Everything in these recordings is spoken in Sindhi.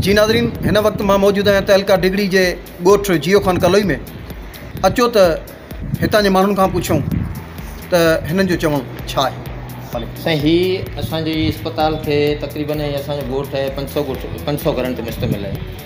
جي ناظرين هن وقت مان موجود آهيان تعلقه ڊگهڙي جي ڳوٺ جيو خان ڪلوئي ۾ اچو ته هتان جي ماڻهن کان پڇون ته هنن جو چوڻ ڇا آهي سائين هي اسانجي اسپتال کي تقريبن ۽ اسانجو ڳوٺ آهي پنج سؤ ڳوٺ پنج سؤ گهرن تي مشتمل آهي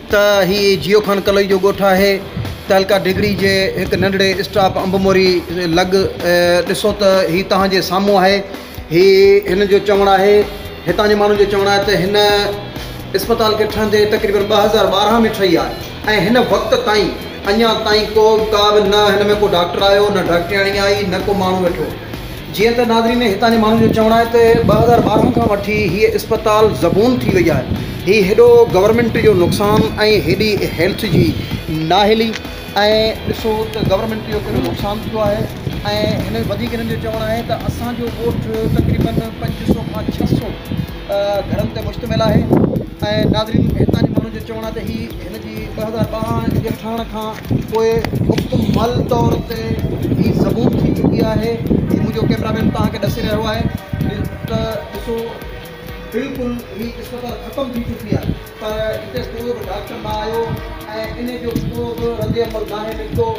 ته هي جيو خان ڪلوئي جو ڳوٺ آهي. تعلقه ڍڳڙي جي هڪ ننڍڙي اسٽاپ انب موري لڳ ڏسو ته هي توهان جي سامهون آهي. هي هن جو چوڻ آهي، هتان جي ماڻهن جو چوڻ آهي ته هن اسپتال کي ٺهندي تقريبن ٻه هزار ٻارهن ۾ ٺهي آهي ۽ هن وقت تائين اڃا تائين ڪو ڪا به نه هن ۾ ڪو ڊاڪٽر آيو نه ڊاڪٽرياڻي آئي نه ڪو ماڻهو ويٺو. جيئن ته ناظرين هتان جي ماڻهن جو چوڻ آهي ته ٻه هزار ٻارهن کان وٺي هي اسپتال زبون ٿي وئي آهي هي هيڏو گورنمينٽ جو نقصان ۽ هيڏي هيلٿ جي ناهلي ۽ ڏسو ته گورنمينٽ جو ڪهڙو نقصان ٿيو آهي ۽ هن ۾ وڌيڪ هنن جو چوڻ آهي ته اسانجو ڳوٺ تقريبن پنج سو کان ڇهه سو گهرن تي مشتمل آهي ۽ ناظرين هتان جي ماڻهن جو چوڻ آهي ته هي هن ٻه هزار ٻارهن جي ٺهڻ کان پوء مڪمل طور تي هي زبون ٿي چڪي آهي هي منهنجو ڪيمرا مين توهان کي ڏسي رهيو آهي ته ڏسو بلڪل هي اسپتال ختم ٿي چڪي آهي پر هتي ڪو به ڊاڪٽر نه آيو ۽ ان جو ڪو به رد عمل ناهي نڪتو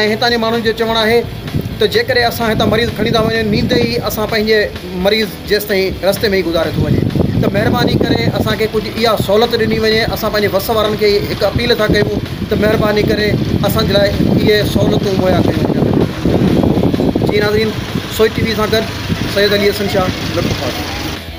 ۽ هتان جي ماڻهن جو چوڻ آهي ته جيڪڏهن اسان هتان مريض کڻي ٿا وڃون نينده ئي اسان پنهنجي مريض جيستائين رستي ۾ ئي گذاري ٿو وڃي ته مهرباني ڪري اسان کي ڪجهه اها سهولت ڏني وڃي اسان پنهنجي وس وارن کي هڪ اپيل ٿا ڪيون ته مهرباني ڪري اسان جي لاء اهي سهولتون مهيا ڪيون وڃن جي ناظرين سوئي ٽي وي سان گڏ سيد علي حسن شاهه لطف آباد.